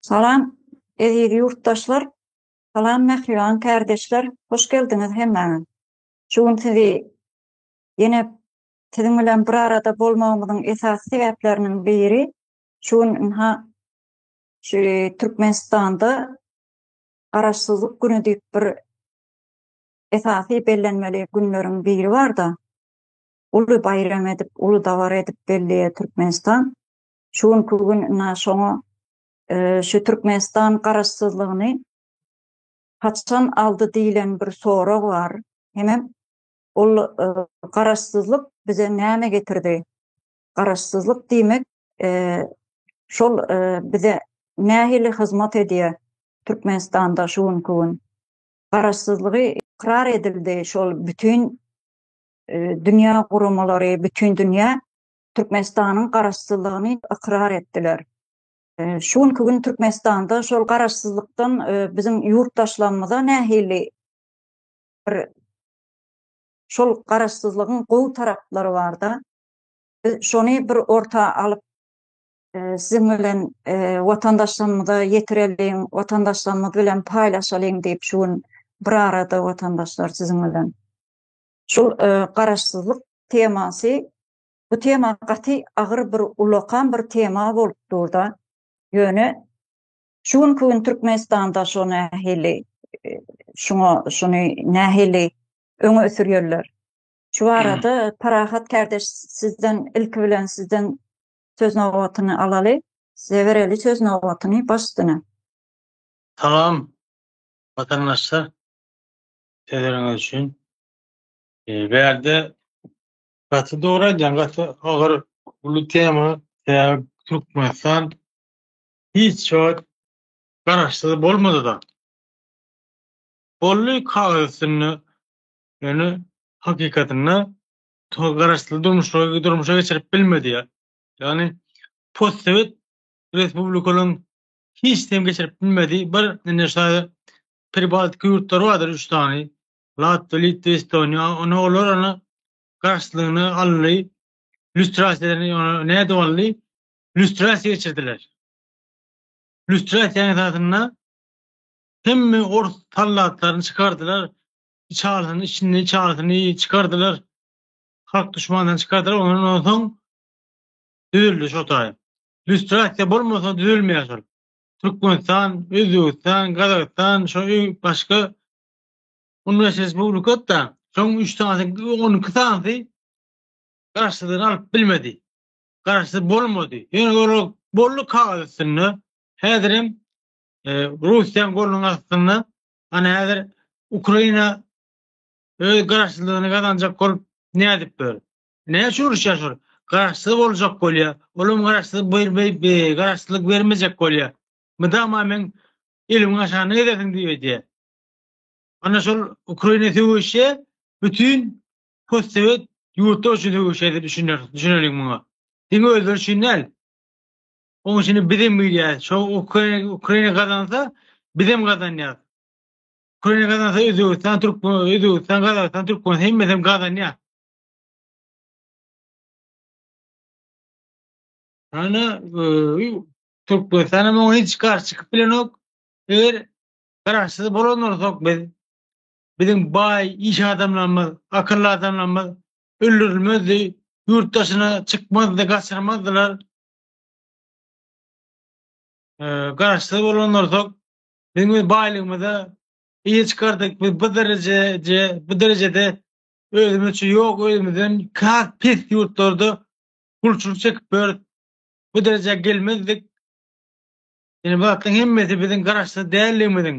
Salam, eziz ýurtdaşlar! Salam, mähriban kärdeşler! Hoş geldiňiz hemmäňiz! Şu gün sizi ýene siziň bilen bir arada bolmagymyzyň esasy sebäpleriniň biri, şu gün ynha şu Türkmenistanda Garaşsyzlyk güni diýip bir esasy bellenmeli günleriň biri bar-da, uly baýram edip, uly dabara edip belleýär Türkmenistan. Şu günki gün ina şoňa şu Türkmenistan garaşsyzlygyny haçan aldy diýlen bir sorag bar. Hemem ol garaşsyzlyk bize näme getirdi? Garaşsyzlyk diýmek şol bize nähili hyzmat edýär Türkmenistanda şu günki gün? Garaşsyzlygy ykrar edildi şol bütin dünýä guramalary, bütin dünýä Türkmenistanyň garaşsyzlygyny ykrar etdiler. Şu günki gün Türkmenistanda şol garaşsyzlykdan biziň ýurtdaşlarymyza nähili bir şol garaşsyzlygyň gowy taraplary barda, biz şony bir orta alyp siziň bilen watandaşlarymyza ýetireliň, watandaşlarymyz bilen paýlaşalyň diýip şu gün bir arada watandaşlar siziň bilen. Şul garaşsyzlyk temasy, bu tema gaty agyr bir ulakam bir tema bolup durda, ýöne şu günki gün Türkmenistanda şo nähili şuňa şuny nähili öňe sürýärler? Şu barada Parahat kärdeş sizden ilki bilen sizden söz nobatyny alaly. Size bereli söz nobatyny baş üstüne. Salam, watandaşlar. sözleriňiz üçin. Eee, bärde gaty dogry aýdýaň, gaty agyr uly tema, sebäbi Türkmenistan hiç wagt garaşsyz bolmady-da. Boldy kagyz üstünde, ýöne hakykatynda to garaşsyz durmuşy durmuşa geçirip bilmedi ýa. Ýagny postsowet respublikalaryň hiç kim geçirip bilmedi. Bir indi şaýy Pribaltika ýurtlary bardyr üç sany, Latwiýa, Litwa, Estoniýa. Ony olar ony garşylygyna aldy. Lýustrasiýa nädip aldy? Lýustrasiýa geçirdiler. Lýustrasiýanyň esasynda hemme ors sallatlaryny çykardylar. Içalyny, içini, içalyny çykardylar. Halk düşmanlaryny çykardylar. Ondan soň düzüldi şo taýy. Lýustrasiýa bolmasa düzülmeýär şol. Türkmenistan, Özbegistan, Gazagystan, şo öý başga on beş respublikada, şoň üç sanysy, on iki sanysy garşydan alyp bilmedi. Garşy bolmady. Ýöne ora boldy kagyz üstünde. Häzir hem e, Russiýanyň golunyň astynda, ana häzir Ukraina öz garşylygyny gazanjak bolup nädip dur? Näçe uruşýar şol? Garaşsyz boljak bolýar. Olam garaşsyz bermeý, be, garaşsyzlyk bermejek bolýar. Mydama men elimiň aşagynda gezersiň diýip edýär. Ana şol Ukraina söweşe bütin postsowet ýurtda üçin söweşe diýip düşüner, düşüneliň muňa. Diňe özleri üçin däl. Oň üçin biz hem bilýär. Şo Ukraina, Ukraina gazansa, biz hem gazanýar. Ukraina gazansa Özbegistan, Türkmen, Özbegistan, Gazagystan, Türkmen hemmesi hem gazanýar. Ana, Türkmenistana muňa hiç garşy çykyp bilenok. Eger garaşsyz bolan bolsak biz, biziň baý iş adamlarymyz, akylly adamlarymyz öldürilmezdi, ýurt daşyna çykmazdy, gaçyrmazdylar. Garaşsyz bolan bolsak, biziň baýlygymyza eýe çykardyk, biz bu derejede, bu derejede Özümizçe ýok özümizden has pes ýurtlarda gulçulyk çekip ýörüs. Bu derejä gelmezdik. Ýöne bu zatlaryň hemmesi biziň garaşsyz däldigimiziň,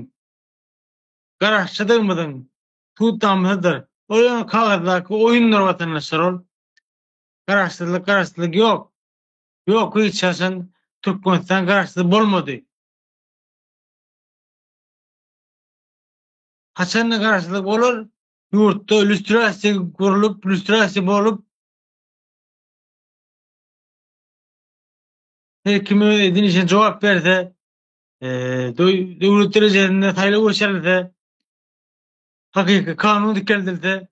garaşçydygymyzyň suwutnamasydyr. Ol ýöne kagyzdaky oýundyr watandaşlar ol. Garaşsyzlyk garaşsyzlyk ýok. Ýok hiç haçan Türkmenistan garaşsyz bolmady. Haçanda garaşsyzlyk bolar, ýurtda lýustrasiýa gurlup, lýustrasiýa bolup her kim öz edin işine jogap berse, e, döwlet derejesinde saýlaw geçirilse, hakyky kanun dikeldilse,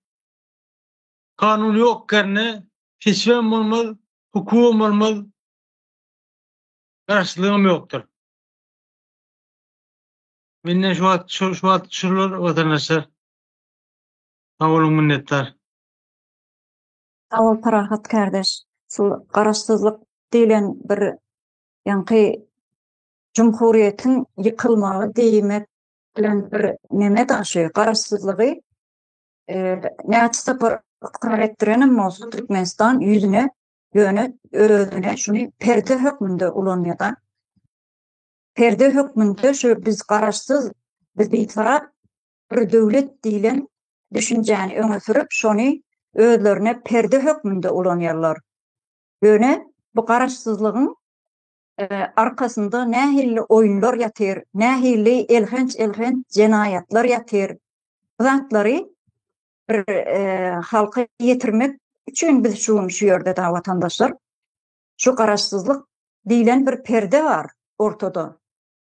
kanun ýok ýerine seçmem bolmaz, hukugam bolmaz, garaşlygam ýokdur. Menden şu wagt şu wagt şular watandaşlar Sag boluň minnetdar. Sag bol Parahat kardeş. Şu garaşsyzlyk diýlen bir ýaňky jumhuriýetiň ýykylmagy diýmek bilen bir neme da şu garaşsyzlygy näçe sapar ykrar etdirenem bolsa Türkmenistan ýüzüne ýöne özüne şuny perde hökmünde ulanýa da. Perde hökmünde şu biz garaşsyz biz bitarap bir döwlet diýlen düşünjäni öňe sürüp, şony özlerine perde hökmünde ulanýarlar. Ýöne bu garaşsyzlygyň arkasynda nähilli oýunlar ýatyr, nähilli elhenç-elhenç jenaýatlar ýatyr. Bu zatlary bir halka ýetirmek üçin biz şu gün şu ýerde dagy watandaşlar. Şu garaşsyzlyk diýlen bir perde bar ortada.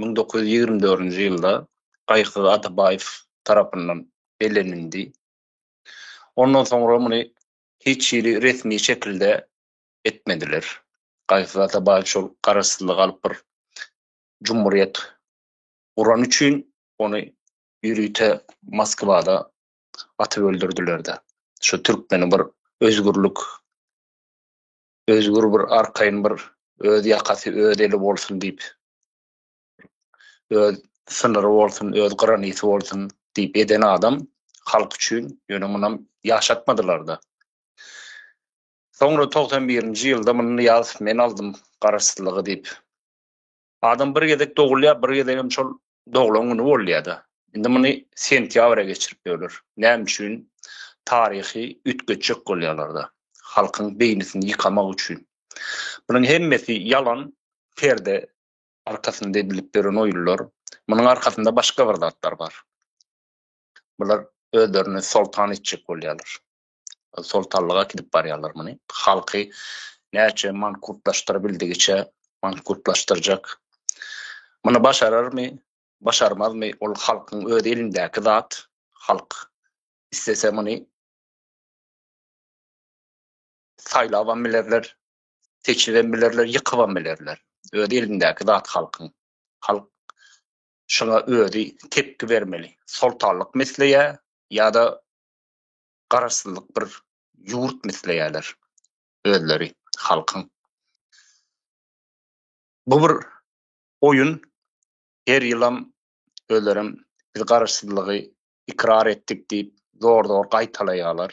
müň dokuz ýüz ýigrimi dördünji ýylda Gaýykyz Atabaýew tarapyndan bellenildi. Ondan soňra muny hiç hili resmi şekilde etmediler. Gaýykyz Atabaýew şol garaşsyzlygy alyp bir jumhurýet guran üçin ony ýörite Moskwada atyp öldürdiler-de. Şu türkmeni bir özgürlik, özgür bir arkaýyn bir öz ýakasy, öz eli bolsun diýip öz synyry bolsun, öz granity bolsun diýip eden adam halk üçin, ýöne munam ýaşatmadylar-da. Soňra togsan birinji ýylda muny ýaz men aldym garaşsyzlygy diýip. Adam bir gezek dogulýar, bir gezek hem şol doglan güni bolýar-da. Indi muny sentýabra geçirip ýörler. Näme üçin? Taryhy üýtgetjek bolýarlar-da. Halkyň beýnisini ýykamak üçin. Bunuň hemmesi ýalan, perde arkasynda edilip ýören oýunlar. Munuň arkasynda başga bir zatlar bar. Bular özlerini soltan etjek bolýarlar. Soltanlyga gidip barýarlar muny. Halky näçe mankurtlaşdyrabildigiçe mankurtlaşdyrjak. Muny başararmy, başarmazmy, ol halkyň öz elindäki zat. Halk istese muny Saýlabam bilerler, seçibem bilerler, ýykybam bilerler. Öz elindäki zat halkyň. Halk şuňa özi tepgi bermeli. Soltanlyk misleýär ýa-da garaşsyzlyk bir ýurt misleýärler özleri halkyň. Bu bir oýun. Her ýylam özlerem biz garaşsyzlygy ykrar etdik diýip zor-zor gaýtalaýarlar.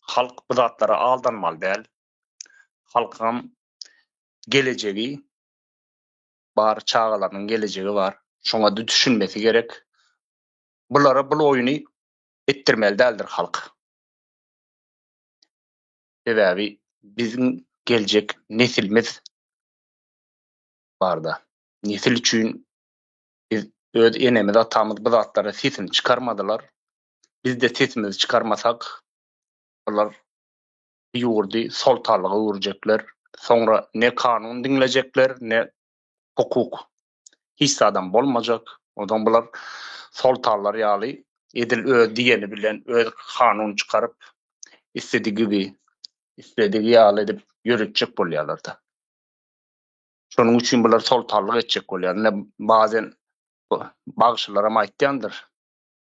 Halk bu zatlara aldanmaly däl. Halkyňam gelejegi bar, çagalarynyň gelejegi bar. Şoňa dtüşinmesi gerek. Bulara bul oýny etdirmeli däldir halk. Sebäbi biziň geljek nesilimiz barda. Nesil üçin biz öz enemiz, atamyz bu zatlara sesini çykarmadylar. bizde sesimizi çykarmasak olar bu ýurdy soltalyga öwürjekler soňra ne kanun diňlejekler ne hukuk hiç zadam bolmajak onsoň bular soltalar ýaly edil öz diýeni bilen öz kanun çykaryp isledi gibi isledi ýaly edip ýöretjek bolýalarda şonuň üçin bular soltalyk etjek bolýar ine bazen bagşylaram aýtýandyr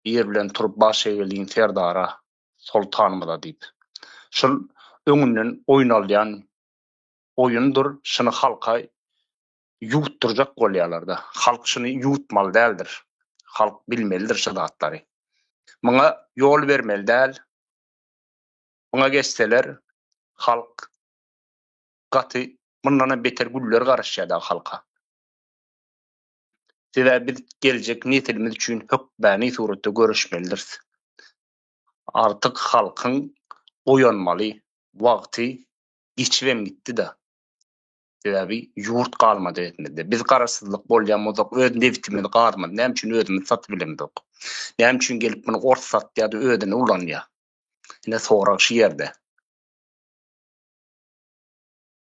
ýer bilen turup baş eýeliň serdara, soltanymyza diýip. Şul öňünden oýnalýan oýundyr, şuny halka ýuwutdyrjak bolýarlar-da. Halk şuny ýuwutmaly däldir. Halk bilmelidir şu zatlary. Muňa ýol bermeli däl. Muňa geçseler, halk gaty mundanam beter güller garaşýar dagy halka. sebäbi biz geljek nesilimiz üçin hökmany suratda göreşmelidiris. Artyk halkyň oýanmaly wagty geçibem gitdi-da. Sebäbi ýurt galmady elimizde. Biz garaşsyzlyk bolýan bolsak, öz nebitimizi, gazymyzy näme üçin özümiz satyp bilemzok? Näme üçin gelip muny ors satýar-da özüne ulanýar? Ine sorag şu ýerde.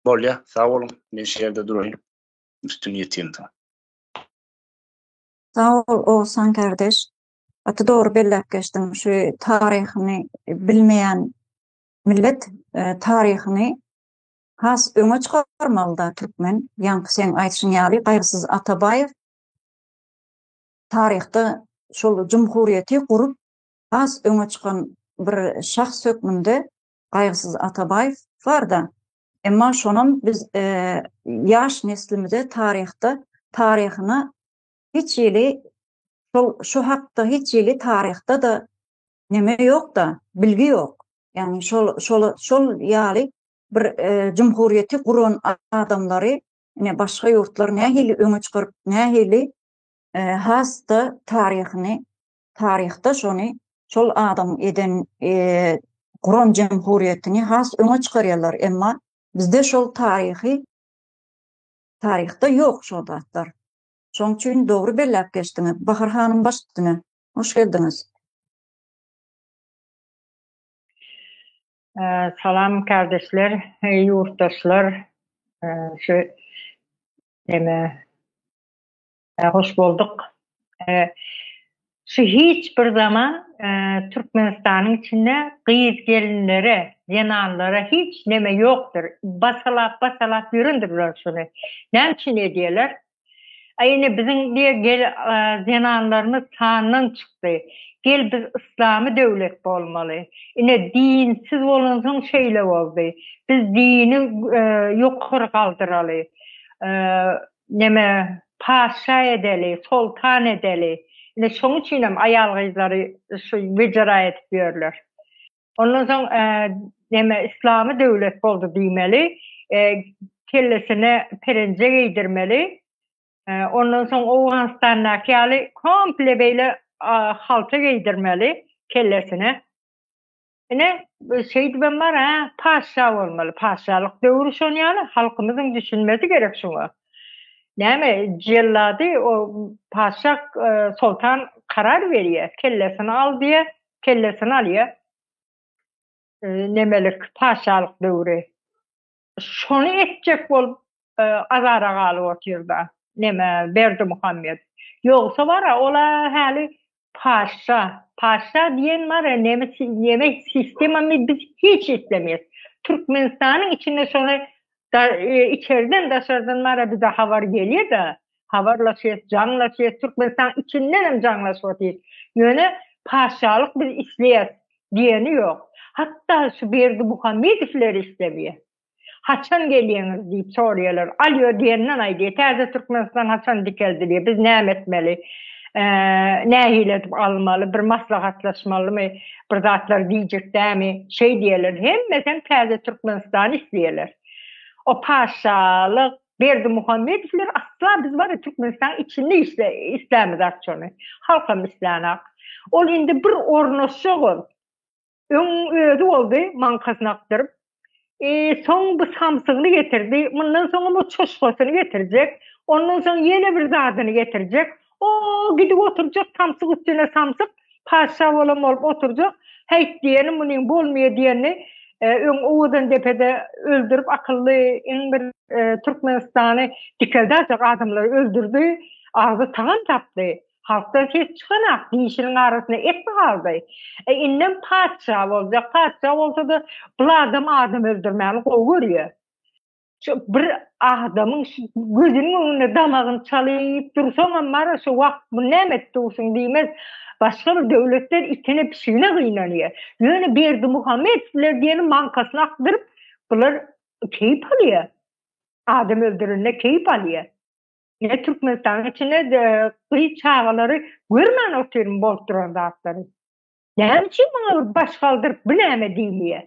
Bolýar, sag boluň. Men şu ýerde duraýyn. üstün ýetýänsiň. Sag bol Ogsan kardeş. Gaty dogry belläp geçdiň. Şu taryhyny bilmeýän millet taryhyny has öňe çykarmalyda türkmen. Ýaňky seň aýdyşyň ýaly Gaýgysyz Atabaýew taryhda şol jumhuriýeti gurup has öňe çykan bir şahs hökmünde Gaýgysyz Atabaýew barda Emma şonam biz ýaş neslimize taryhda taryhyna hiç hili şol şu hakda hiç hili taryhda-da neme ýok-da, bilgi ýok. Ýagny şol şol şol ýaly bir jumhuriýeti guran adamlary ine başga ýurtlar nähili öňe çykaryp, nähili has-da taryhyny taryhda şony şol adam eden guran jemhuriyetini has öňe çykaryalar emma bizde şol taryhy taryhda yok şol zatlar şoň üçin dogry bellap geçdiňiz bahar hanym baş üstüne hoş geldiňiz Salam kardeşler, yurttaşlar, şu deme Hoş bolduk. Şu hiç bir zaman Türkmenistanyň içinde gyz gelinlere, zenanlara hiç neme ýokdyr. Basalap basalap ýörendirler şuny. Näme üçin edýärler? A ine biziň diýe zenanlarymyz sandan çykdy. Gel biz yslamy döwlet bolmaly. Ine dinsiz bolansoň şeýle boldy. Biz dini ýokary galdyraly. Neme, patyşa edeli, soltan edeli. Ine, şoň üçinem aýal-gyzlary şu wejera edip ýörler. Ondan soň, neme, yslamy döwlet boldy diýmeli, kellesine perenje geýdirmeli. Ondan soň Owganystandaky ýaly komple beýle halta geýdirmeli kellesine. Ine, şeýdibem bar-a, patyşa bolmaly, patyşalyk döwri şon ýaly, halkymyzyň düşünmesi gerek şuňa. Näme, jellady o patyşa, soltan karar berýär, kellesini al diýýär, kellesini alýar. Nemelik, patyşalyk döwri. şony etjek bolup e, azara galyp otyrda. Neme Berdi Muhammed. Ýogsa bara ola häli paşa, paşa diýen bar ya neme neme sistema mi biz hiç islemeýär. Türkmenistanyň içinde şony da, e, içerden daşardan mara bize habar gelýär da. habarlaşýas, jaňlaşýas, Türkmenistan içinden hem jaňlaşyp Ýöne paşşalyk biz isleýäs diýeni ýok. Hatda şu Berdi Muhammedowleri islemeýär. Haçan gelýäňiz diýip soraýarlar. Alýo diýenden aýdýar, täze Türkmenistan haçan dikeldilýär, biz näme etmeli, nähili edip almaly, bir maslahatlaşmalymy, bir zatlar diýjek dämi, şeý diýýärler. Hemmesi hem täze Türkmenistany isleýärler. O paşşalyk, Berdimuhamedowlar asla biz bar ya Türkmenistan içinde islämizak şony. Halkam islänak. Ol indi bir ornaşjak ol. Öň özi boldy maňkasyny akdyryp. E, soň bu samsygyny getirdi. Mundan soňam o çoşkasyny getirjek. Ondan soň ýene bir zadyny getirjek. O, gidip oturjak samsyk üstüne samsyk, patyşa bolan bolup oturjak. Häýt diýeni munyň bolmaýa diýeni, öň Owazandepede öldürip akylly iň bir Türkmenistany dikeldäjek adamlary öldürdi, agzy tagan tapdy. Halkdan ses çykanak, dişiniň arasynda et mi galdy? E, indem patyşa boljak, patyşa bolsa-da bul adam adam öldürmäni gowy görýä. şu bir adamyň gözüniň öňünde damagyny çalyp dursaňam mara şu wagt bu näme edip dursun diýmez. Başga bir döwletler itine pişigine gynanýar. Ýöne Berdi Muhammet biler diýeni mankasyny akdyryp bular keýp alýar. Adam öldürende keýp alýar. Ne Türkmenistanyň içinde gyz çagalary görmän otyryn bolup duran zatlary. Näme üçin muňa bir baş galdyryp bu näme diýilýär?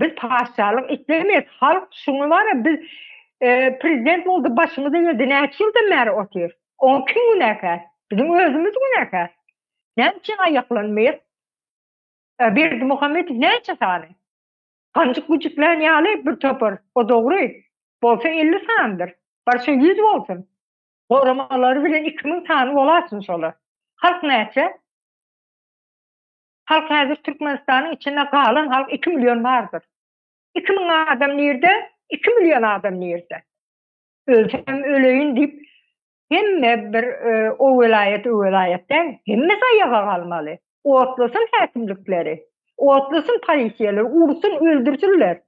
Biz paşşalyk islemeýäs. Halk şuňa bara biz e, prezident boldy, başymyzy geldi. Näçe ýyldan bäri otyr? Oň kim günäkär? Biziň özümiz günäkär. Näme üçin aýaklanmaýar? E, Berdi Muhammedow näçe sany? Ganjyk güjüklän ýaly bir topar. O dogry. Bolsa 50 sandyr. Barşa 100 bolsun. Goramalary bilen 2000 sany bolasyn şolar. Halk näçe? Halk häzir Türkmenistanyň içinde galan halk iki million bardyr. Iki müň adam nirde, iki million adam nirde? Ölsem öleýin diýip, hemme bir e, o welaýat, o welaýat däl, hemme zaýaga galmaly. Otlasyn häkimlikleri, otlasyn polisiýalar, ursun, öldürsinler.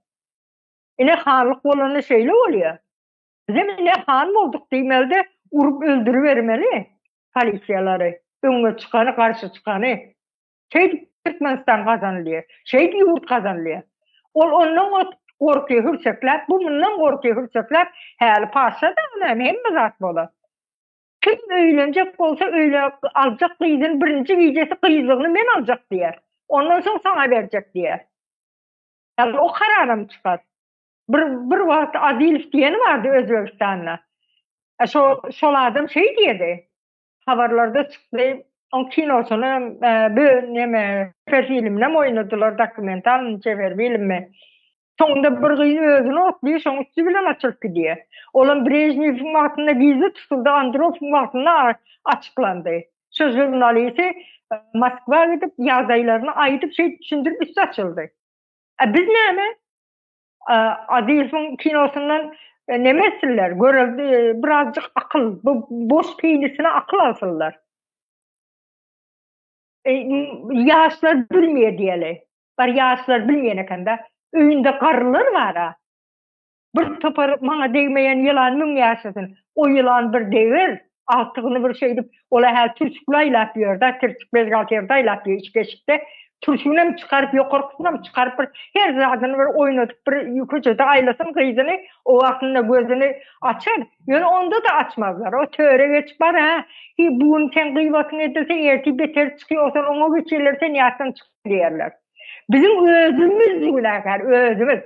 Ine hanlyk bolanda şeýle bolýar. Bizem ine han bolduk diýmelde, urup öldürübermeli. polisiýalary, öňe çykany, garşy çykany. Şeýdip Türkmenistan gazanylýar. Şeýdip ýurt gazanylýar. Ol ondan ot gorky hürsekläp, bu mundan gorky hürsekläp, häli paşa da näme hemme zat bolar. Kim öýlenjek bolsa öýle aljak gyzyny birinji gijesi gyzlygyny men aljak diýer. Ondan soň saňa berjek diýer. Ýa-da o karar hem çykar. Bir bir wagt Adilow diýeni bardy Özbegistanda. E, şo şol adam şeý diýdi. Habarlarda çykdy. O kinosyny e, bu neme çeper filmde oýnadylar dokumental çeper filmde. Soňunda bir gyz özüni otluyor, şoň üstü bilen açylyp gidiyor. Olam Brejnev'in wagtynda gizli tutuldy, Andropov'un wagtynda açyklandy. Şu jurnalisti e, Moskwa gidip, ýagdaýlaryny aýdyp, şeýdip düşündirip üstü açyldy. E biz näme? Azizowyň kinosyndan e, neme etsinler? Göre e, birazcık akıl, bu boş peýlisine akıl alsınlar. E, yaşlar bilmeýär diýeli. Bar yaşlar bilmeýän ekende. Öýünde garrylar bar-a. Bir topar maňa degmeýän ýylan müň ýaşasyn. O ýylan bir deger. agtygyny bir şeýdip, ol-a hä türşükli aýlap ýör-de, tirtik bezgalterde aýlap ýör içki eşikde. Türşügini hem çykaryp, ýokarkysyny hem çykaryp, bir her zadyny bir oýnadyp, bir köçede aýlasyn gyzyny, o wagtynda gözüni açar. Ýöne onda-da açmazlar. O töre geçip bar, hä, hiý, bu gün seň gybatyň edilse, ertir beteri çykýar, o sen oňa geçýärler, sen ýatdan çykma diýerler. Biziň özümiz günäkär, özümiz.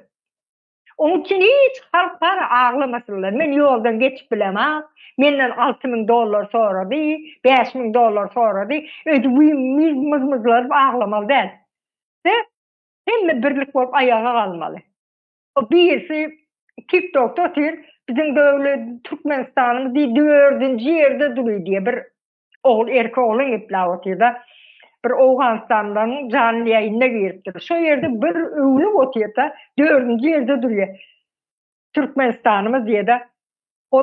Oň üçin hiç halk bar aglamasynlar. Men ýoldan geçip bilemok. Menden alty müň dollar sorady, bäş müň dollar sorady. Öýdüp myz-myzlaryp aglamaly däl. De, hemme birlik bolup aýaga galmaly. O birisi TikTokda otyr, biziň döwlet Türkmenistanymyz diý dördünji ýerde dury diýýär. Bir ogul erki oglan geplap otyrda bir owganystanlyň janly ýaýyna giripdir şo ýerde bir öwlüp otyrda dördünji ýerde durýar türkmenistanymyz diýede o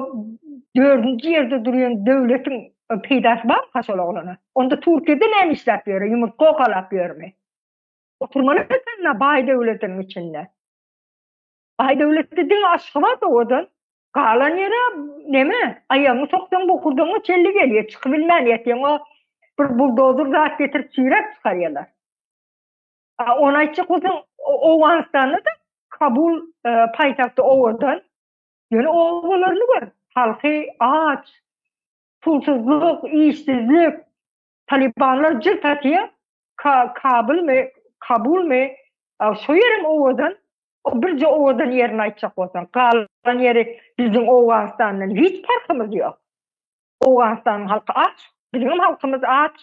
dördünji ýerde durýan döwletiň peýdasy bar ha şol oglana onda türkiýede näme işläp ýöre ýumurtga okalap ýörmi oturmaly baý döwletiň içinde Aýdöwletde diňe Aşgabat owadan. Galan ýere neme, aýagyňy soksaň bokurdagyňa çelli gelýär, çykyp bilmän ýatýaň. O bir buldozer zat getirip çiräp çykarýarlar. A ony aýtjak bolsaň, Owganystanda-da Kabul e, paýtagty owadan. Ýöne obalaryny gör, halky aç, pulsuzlyk, işsizlik, Talibanlar jyrt atýar, Kabulmy, Kabulmy, şo ýerem owadan, o birje owadan ýerini aýtjak bolsaň, galan ýeri biziň Owganystandan hiç parhymyz ýok. Owganystanyň halky aç, biziňem halkymyz aç.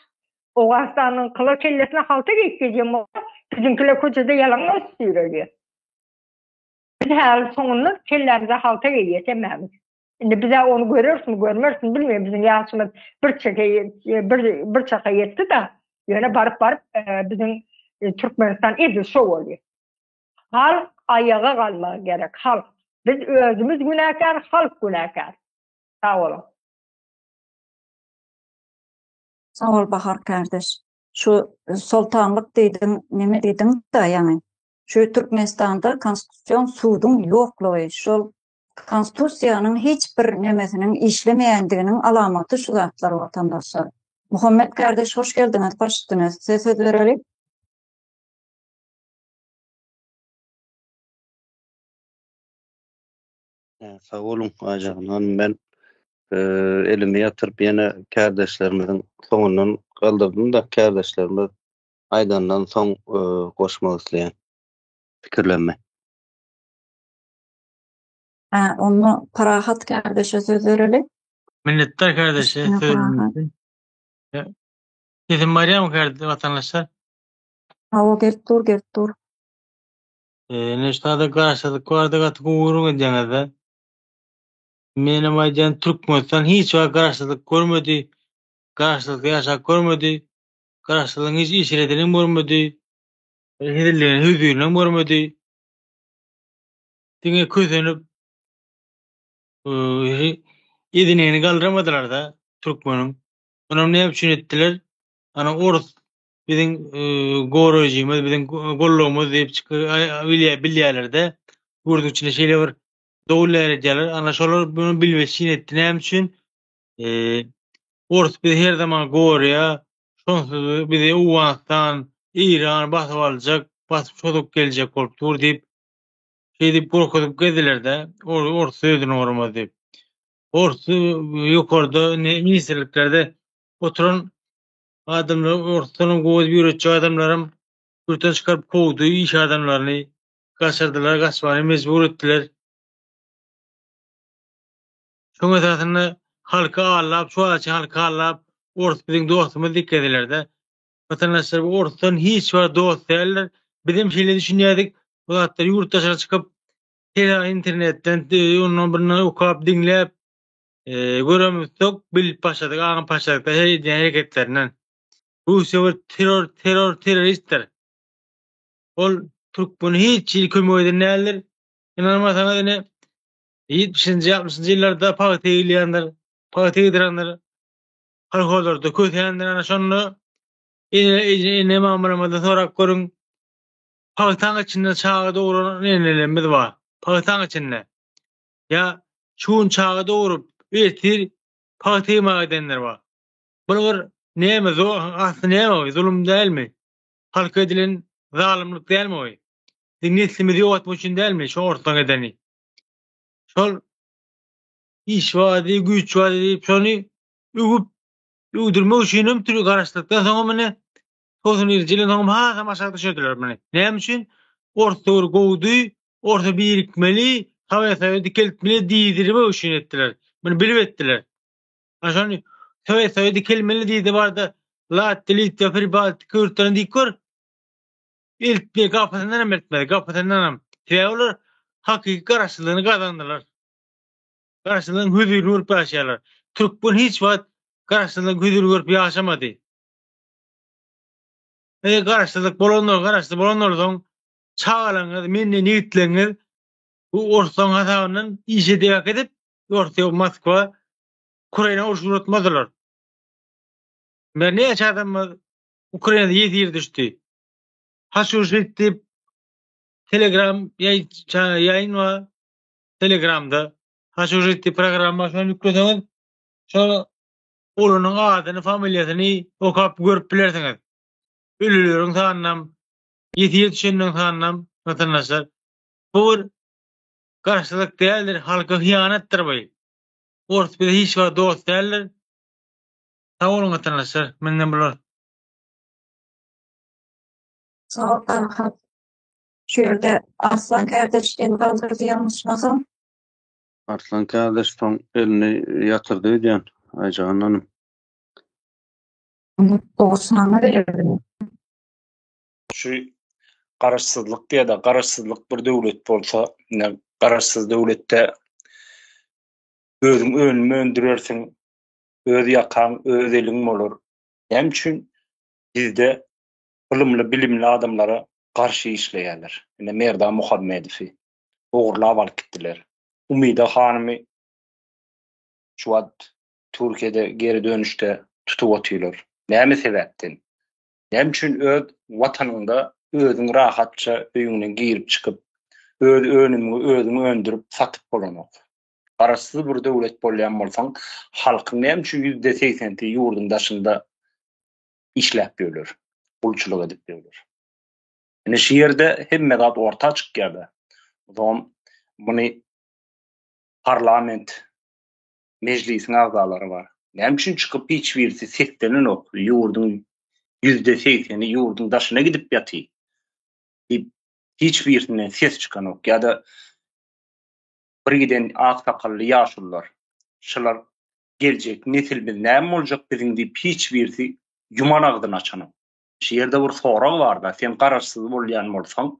Owganystanyňkylar kellesine halta geýip gezýän bolsa, biziňkiler köçede ýalaňaç süýrelýär. Biz häli soňundan kellämize halta geýýäs hemmämiz. Indi bize onu görürsün, görmersin bilmeýin. Biziň ýaşymyz bir çeke e, bir bir çaka ýetdi da, ýöne baryp baryp e, biziň e, Türkmenistan edil şo bolýar. Halk aýaga galmagy gerek. Halk biz özümiz günäkär, halk günäkär. Sag boluň. Sag bol Bahar kardeş. Şu soltanlyk diýdiň, näme diýdiň da ýaňy? Şu Türkmenistanda konstitusion suduň ýoklugy, şol Konstitusiýanyň hiç bir nemesiniň işlemeýändiginiň alamaty şu zatlar watandaşlar. Muhammet kardeş hoş geldiňiz baş üstüne size söz bereli. Sag boluň aýjagynlanym men elimi ýatyryp ýene kärdeşlerimiziň soňundan galdyrdym-da kärdeşlerimiz aýdandan soň goşmak isleýän pikirlerimi. Hä, onda Parahat kärdeşe söz bereli. Minnetdar kärdeşe söz Sesim barýarmy kärde watandaşlar? Hawa, gelip dur, gelip dur. Ee, ne şada garşylyk bardy, gaty gowurun edýäňiz-de. Menem aýdýan Türkmenistan hiç wagt garşylyk görmedi. Garşylykda ýaşap görmedi. Garşylygyň hiç işredini görmedi. Hezilligini, hüzürini görmedi. diňe kösenip edineni galdyrmadylar-da türkmeniň. Onam näme üçin etdiler? Ana orus biziň goraýjymyz, biziň gollagymyz diýip bilýärler-de, gürziň içinde şeýle bir dowul däredýärler. Ana şolar muny bilmeşjeň etdi. Näme üçin? Orus bizi her zaman goraýar, Şonsuz bizi Owganystan, Eýran basyp aljak, basyp çozuk geljek bolup dur diýip, şeýdip gorkuzyp gezdiler-de, ors özüni gormaz diýip. Ors ýokarda indi ministrliklerde oturan adamlar orsdan gowy ýöretjek adamlaram ýurtdan çykaryp kowdy, iş adamlaryny gaçyrdylar, gaçmaga mejbur etdiler. Şoň esasynda halky aldap, şu wagtça halky aldap, ors biziň dostumyz dik gezilerde. Watandaşlar bu orsdan hiç wagt dost däldir. Bizem şeýle düşünýädik. Bu zatlar ýurt daşyna çykyp, tele internetden, ondan bundan okap, diňläp, göremizsok, bilip başladyk, aňyp başladyk da her edýän hereketlerinden. Russiýa bir terror, terror, terroristdir. Ol türkmene hiç hili kömek eden däldir. Ynanmasaňyz ine, Ýetmişinji, altmyşynjy ýyllarda pagta egilýändir, pagta egdirendir. Kolhozlarda kösendir, ana şonda ene mamalarymyzdan sorap görüň. Pagtaň içinde çaga dogran enelerimiz bar. Pagtaň içinde. Ýa şu gün çaga dogrup, ertir pagta ýygmaga gidenler bar. Bul bir näme, asly näme bu? Zulum dälmi? Halka edilen zalymlyk dälmi bu? Biziň neslimizi ýogatmak üçin dälmi şu orslaň edeni? şol iş wady, güýç wady diýip şony öwüp öwdürmek üçin hem türk garaşdykdan soňam ine 90-njy ýylyň soňam hasam aşak düşürdiler muny. Näme üçin? Orta bir gowdy, orta birikmeli, Sowet Soýuzy dikeltmeli diýdirmek üçin etdiler. Muny bilip etdiler. Ana şony Sowet Soýuzy dikelmeli diýdi barda Latwiýa, Litwa, Pribaltika ýurtlaryny diýip gör. Eltmeli, gapysyndanam eltmeli, gapysyndanam. Sebäbi olar hakyky garaşsyzlygyny gazandylar. Garaşsyzlygyň hüzürini görüp ýaşaýarlar. Türkmen hiç wagt garaşsyzlygyň hüzürini görüp ýaşamady. Eger garaşsyzlyk bolandan, garaşsyz bolandan soň çagalaryňyz, menden ýigitleriňiz bu orsuň hasabyndan iş edip äkidip, Orsiýa, Moskwa, Ukraina urşy gurutmadylar. Näçe adamymyz Ukrainada ýesir düşdi. Haşuşit diýip Telegram ýaýyn bar. Telegramda Haşuşit diýip programmasyny ýükleseňiz, şo ulunyň adyny, familiýasyny okap görüp bilersiňiz. Ölüleriň sanynam, ýesir düşenleriň sanynam, watandaşlar. Bu bir garşylyk däldir, halka hyýanatdyr bu. Ors bize hiç wagt dost däldir. Sag boluň watandaşlar menden bular. Sag Farhat. Şu ýerde Arslan kardeş el galdyrdy ýalňyşmasam. Arslan kardeş soň elini ýatyrdy öýdýän Aýjahan hanym. Muny dogrusyna berdim. Şu garaşsyzlyk diýede garaşsyzlyk bir döwlet bolsa ine garaşsyz döwletde özüň önüm öndürersiň öz ýakaň, öz eliň bolar. Näme üçin bizde ylymly, bilimli adamlara garşy işleýärler? Ine, Merdan Muhammedowy ogurlap alyp gitdiler. Umida hanymy şu wagt Türkiýede geri dönüşde tutup otyrlar. Näme sebäpden? Näme üçin öz Watanyňda özüň rahatça öýüňden girip-çykyp, öz önümiňi özüň öndürip, satyp bolanok? Garaşsyz bir döwlet bolýan bolsaň, halkyň näme üçin ýüzde segsenti ýurduň daşynda işläp ýörler, gulçulyk edip ýörler? Ine şu ýerde hemme zat orta çykýar-da. O zaman muny parlament mejlisiň agzalary bar. Näme üçin çykyp hiç birisi seslenenok? Ýurduň ýüzde segseni ýurduň daşyna gidip ýatyr diýip hiç birisinden ses çykanok ýa-da Bir giden ak sakally ýaşulylar. Şylar geljek nesilmiz näme boljak biziň diýip hiç birisi ýuman agzyny açanok. Şu ýerde bir sorag barda sen garaşsyz bolýan bolsaň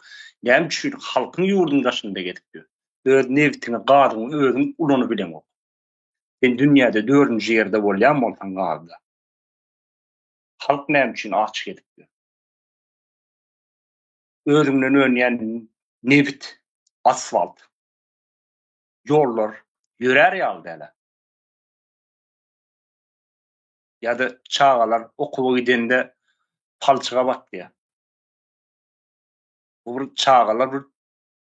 näme üçin halkyň ýurdyň daşynda gezip ýör. Öz nebtiňi gazyňy özüň ulanyp bileňok. Sen dünýäde dördünji ýerde bolýan bolsaň gazda. Halk näme üçin aç gezip ýör. Özüňden önýän nebit, asfalt ýollar ýörär ýaly däl-ä. Ýa-da çagalar okuwa gidende palçyga batýar. Bu bir çagalar bir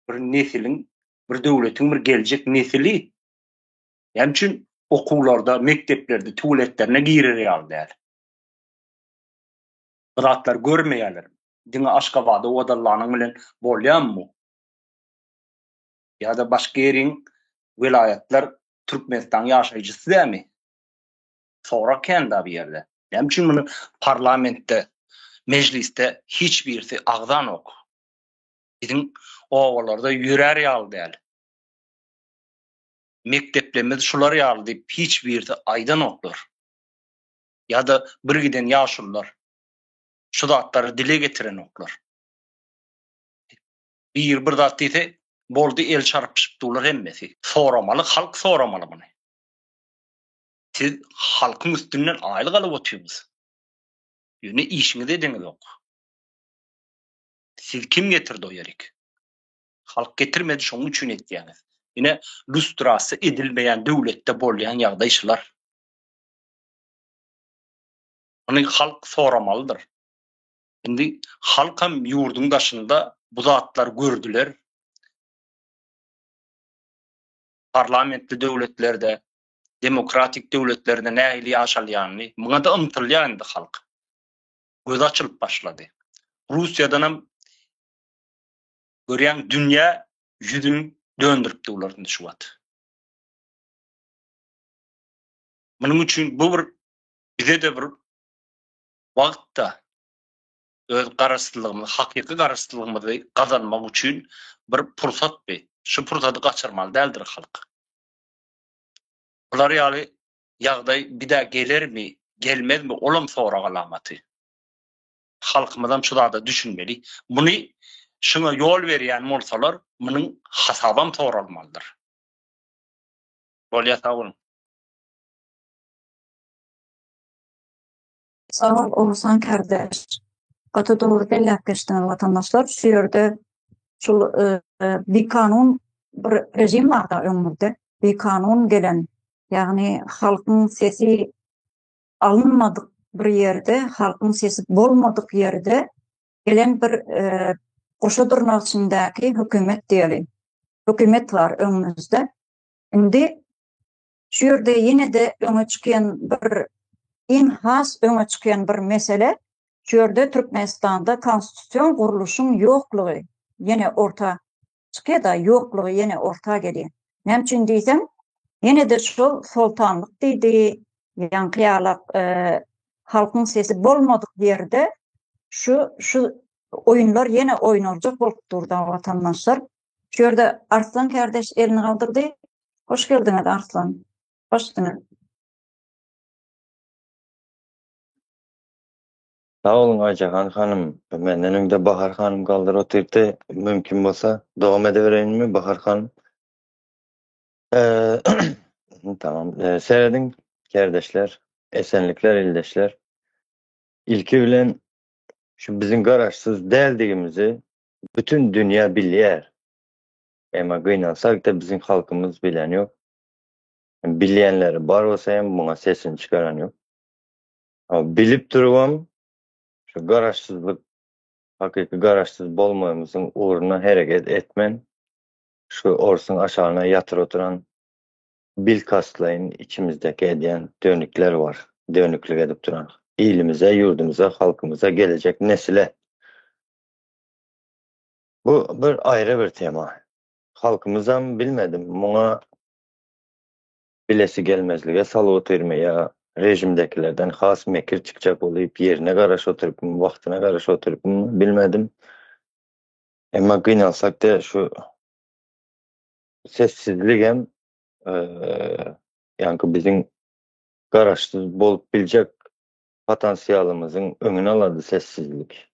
bir nesiliň, bir döwletiň bir geljek nesili. Näme üçin okuwlarda, mekdeplerde tualetlerine girer ýaly däl? Bu zatlary görmeýärlermi? Diňe Aşgabada owadallanyň bilen bolýarmy bu? Ýa-da başga ýeriň, welaýatlar Türkmenistanyň ýaşaýjysy dälmi? Sorag kän-da bu ýerde. Näme üçin muny parlamentde, mejlisde hiç birisi agzanok? Biziň obalarda ýörär ýaly däl. Mekdeplerimiz şular ýaly diýip hiç birisi aýdanoklar. Ýa-da bir giden ýaşulylar şu zatlary dile getirenoklar. Biri bir zat diýse, boldy el çarpyşyp durlar hemmesi. Soramaly, halk soramaly muny. Siz halkyň üstünden aýlyk alyp otyrňyz. Ýöne işiňizi ediňizok. Sizi kim getirdi o ýerik? Halk getirmedi şoň üçin etýäňiz. Ine lustrasiýa edilmeýän döwletde bolýan ýagdaý şular. Muny halk soramalydyr. Indi halkam ýurduň daşynda bu zatlary gördüler. Parlamentli döwletlerde, demokratik döwletlerde nähili ýaşalýanyny, muňa-da ymtylýar indi halk. Gözi açylyp başlady. Russiýadanam görýäň dünýä ýüzün döndüripdi bular indi şu wagt. Munuň üçin bu bir bize-de bir wagtda öz garaşsyzlygymyzy, hakyky garaşsyzlygymyzy gazanmak üçin bir pursatdy. Şu pursady gaçyrmaly däldir halk. Bular ýaly ýagdaý bidä gelermi, gelmezmi olam sorag alamaty. Halkymyzam şu zada düşünmeli. Muny şuňa ýol berýän bolsalar, munuň hasabam soralmalydyr. Bolýa sag boluň. Sag bol Oguzhan kardeş. Gaty dogry belläp geçdiňiz watandaşlar. Şu ýerde şul bikanun bir rejim barda öňümizde. Bikanun gelen ýagny halkyň sesi alynmadyk bir ýerde, halkyň sesi bolmadyk ýerde gelen bir goşa dyrnak içindäki hökümet diýeli. Hökümet bar öňümizde. Indi Şu ýerde ýene-de öňe çykýan bir iň has öňe çykýan bir mesele, şu ýerde Türkmenistanda konstitusion gurluşyň ýoklugy ýene orta çykýar-da, ýoklugy ýene orta gelýär. Näme üçin diýseň, ýene-de şol soltanlyk diýdi, ýaňky ýaly halkyň sesi bolmadyk ýerde şu şu oýunlar ýene oýnaljak bolup dur-da, watandaşlar. Şu ýerde Arslan kärdeş elini galdyrdy. Hoş geldiňiz Arslan. Hoş diňiz. Sag boluň Aýjahan hanym. Menden öňde Bahar hanym galdyryp otyrypdy. Mümkin bolsa dowam edibereýinmi Bahar hanym? Tamam. Serediň kärdeşler. Esenlikler ildeşler. Ilki bilen şu biziň garaşsyz däldigimizi bütin dünýä bilýär. Emma gynansakda biziň halkymyz bilen ýok. Bilýänleri bar bolsa hem muňa sesini çykaran ýok. A bilip durubam şu garaşsyzlyk hakyky garaşsyz bolmagymyzyň ugruna hereket etmän şu orsuň aşagyna ýatyr oturan bilkastlaýyn içimizdäki edýän dönükler bar. Dönüklik edip duran ilimize, ýurdumyza, halkymyza, gelejek nesile Bu bir aýry bir tema. Halkymyzam bilmedim muňa bilesi gelmezlige salyp otyrmy ýa režimdekilerden has mekir çykjak bolup ýerine garaşyp oturypmy wagtyna garaşyp oturypmy bilmedim. Emma gynansak de şu sessizligem ýaňky biziň garaşsyz bolup biljek patansiýalymyzyň öňüni alady sessizlik.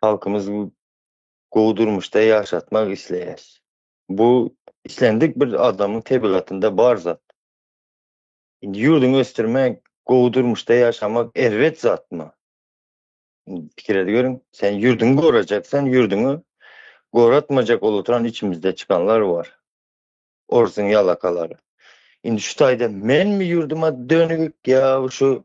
halkymyzy gowy durmuşda ýaşatmak isleýär. Bu islendik bir adamyň tebigatynda bar zat. Indi ýurduňy ösdürmek, gowy durmuşda ýaşamak erbet zatmy? Indi pikir edip görüň. Sen ýurduňy gorajaksan, ýurduňy goratmajak ol oturan içimizde çykanlar bar. Orsuň ýalakalary. Indi şu taýda menmi ýurduma dönügik ýa şu